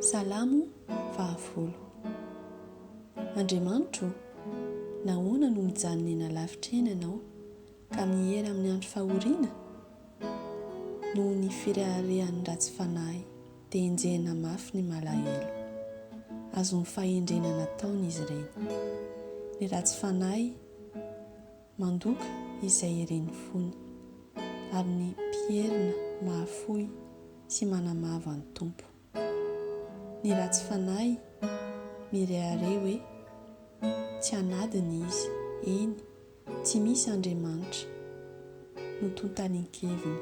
Salamo vavolo. Andriamanitro ô, nahoana no mijanona eny alavitra eny Ianao, ka miera amin'ny andro fahoriana? Noho ny fireharehan'ny ratsy fanahy dia enjehina mafy ny malahelo. Azon'ny fahendrena nataony izy ireny. Ny ratsy fanahy. Mandoka izay irin'ny fony. Ary ny mpierina mahafoy sy manamavo an'ny Tompo. Ny ratsy fanahy mirehareha hoe tsy an'adiny izy, eny, tsy misy Andriamanitra, no tontalin-keviny.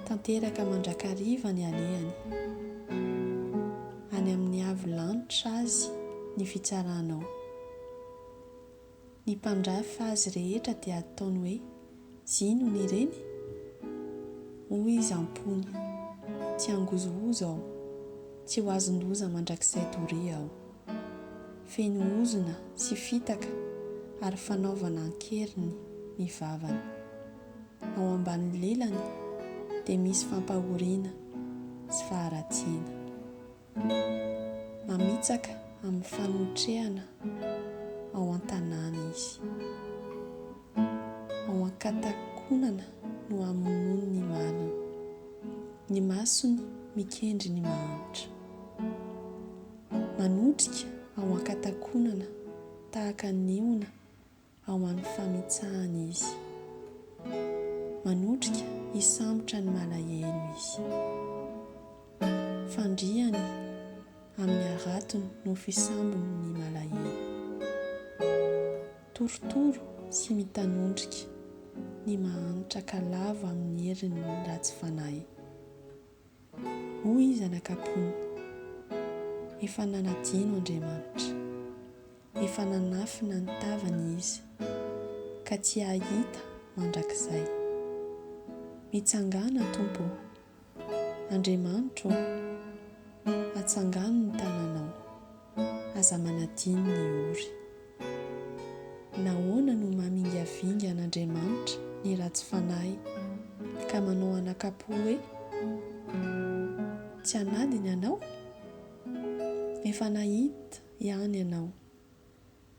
Tanteraka mandrakariva ny alehany. Any amin'ny avo lanitra azy ny fitsaranao. ny mpandrafy fa azy rehetra dia ataony hoe zinona ireny? Hoy izy am-pony, Tsy hangozohozo aho, tsy ho azon-doza mandrakizay doria aho. Feno ozona sy fitaka ary fanaovana an-keriny ny vavany. Ao ambany lelany dia misy fampahoriana sy faharatsiana. Mamitsaka amin'ny fanotrehana ao an-tanàna izy. Ao an-katakonana no hamonoany ny maliny. Ny masony mikendry ny mahantra. Manotrika ao an-katakonana tahaka ny ona ao amin'ny fanitsahany izy. Manotrika hisambotra ny malahelo izy. Fandriany amin'ny haratony no fisambony ny malahelo. Torotoro sy mitanondrika ny mahantra ka lavo amin'ny herin'ny ratsy fanahy. Hoy zanak'Ampony, Efa nanadino Andriamanitra, efa nanafina ny tavany izy, ka tsy hahita mandrakizay. Mitsangàna, Tompo ô! Andriamanitro ô! Atsangano ny tananao! Aza manadino ny ory. Nahoana no mamingavinga an'Andriamanitra ny ratsy fanahy, ka manao anakapo hoe, Tsy hanadiny Anao? Efa nahita ihany ianao.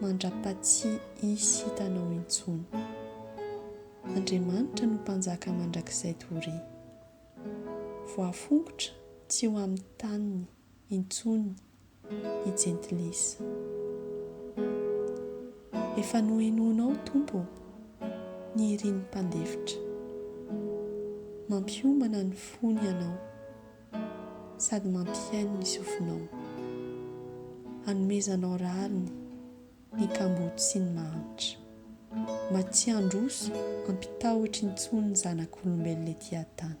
mandrapatsy hisy hitanao intsony. Andriamanitra no mpanjaka mandrakizay doria. Voafongotra tsy ho amin'ny taniny intsony ny jentilisa. Efa nohenoinao Tompo ô, ny irin'ny mpandefitra. Mampiomana ny fony ianao. sady mampihaino ny sofinao, hanomezanao rariny ny kamboty sy ny mahantra, mba tsy handroso ampitahotry ny tson'ny zanak'olombelona ety an-tany.